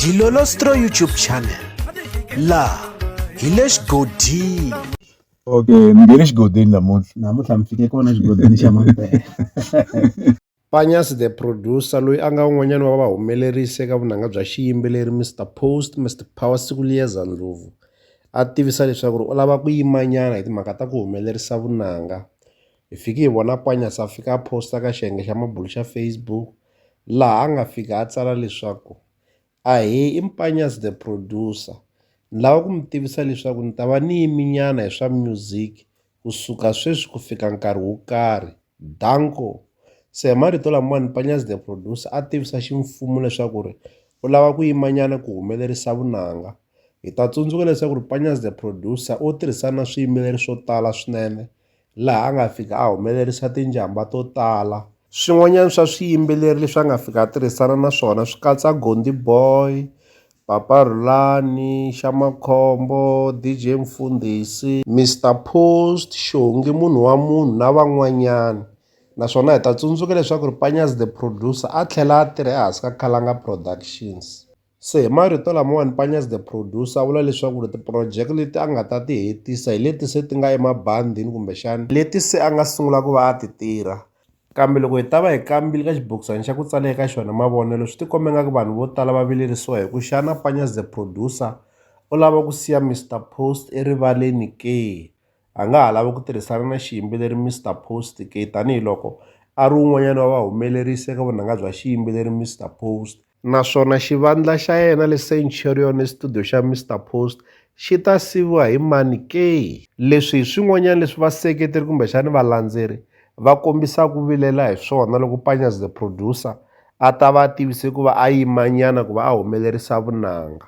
Dilolostro YouTube channel la hi le xigodini okay mi nge le xigodini namuntlha namuntlha mi fike kona xigodini xa mampela Panyas the producer loyi a nga un'wanyana wa vahumelerisi eka vunanga bya xiyimbeleri Mr Post Mr Power Sikuliyeza Ndlovu a tivisa leswaku ri u lava ku yimanyana hi timhaka ta ku humelerisa vunanga Hi fike hi vona Panyaza a fika a post-a ka xiyenge xa mabulo xa Facebook laha a nga fika a tsala leswaku, ahee i Panyaza the producer ni lava ku mi tivisa leswaku ni ta va ni yiminyana hi swa music kusuka sweswi ku fika nkarhi wo karhi, danko. Se hi marito lamawani Panyaza the producer a tivisa ximfumo leswaku ri u lava ku yimanyana ku humelerisa vunanga. Hi ta tsundzuka leswaku ri Panyaza the producer u tirhisana na swiyimbeleri swo tala swinene. laha a nga fika a humelerisa tinjhambha to tala. Swin'wanyana swa swiyimbeleri leswi a nga fika a tirhisana na swona swi katsa Gondi Boy, Papa Rhulani, Xa Makhombo, DJ Mfundhisi, Mister Post, Xongi munhu wa munhu na van'wanyana naswona hi ta tsundzuka leswaku ri Panyazi the Producer a tlhela a tirha ehansi ka Khalanga Productions. Se hi marito lamawani Panya's The Producer a vula leswaku ri tiprojeke leti a nga ta ti hetisa hi leti se ti nga emabandini kumbexana leti se a nga sungula ku va a ti tirha. Kambe loko hi ta va hi kambile ka xibokisana xa ku tsale eka xona mavonelo swi tikombe nga ku vanhu vo tala va vilerisiwa hi ku xana Panya's The Producer u lava ku siya Mister Post erivaleni ke? A nga ha lavi ku tirhisana na xiyimbeleri Mister Post ke tanihi loko a ri wun'wanyana wa vahumelerisi eka vunanga bya xiyimbeleri Mister Post. naswona xivandla xa yena le Centurion ni situdiyo xa Mister Post xi ta siviwa hi mani ke? Leswi hi swin'wanyana leswi vaseketeri kumbexana valandzeri va kombisaka ku vilela hi swona loko Panya's The Producer a ta va a tivise ku va a yimanyana ku va a humelerisa vunanga.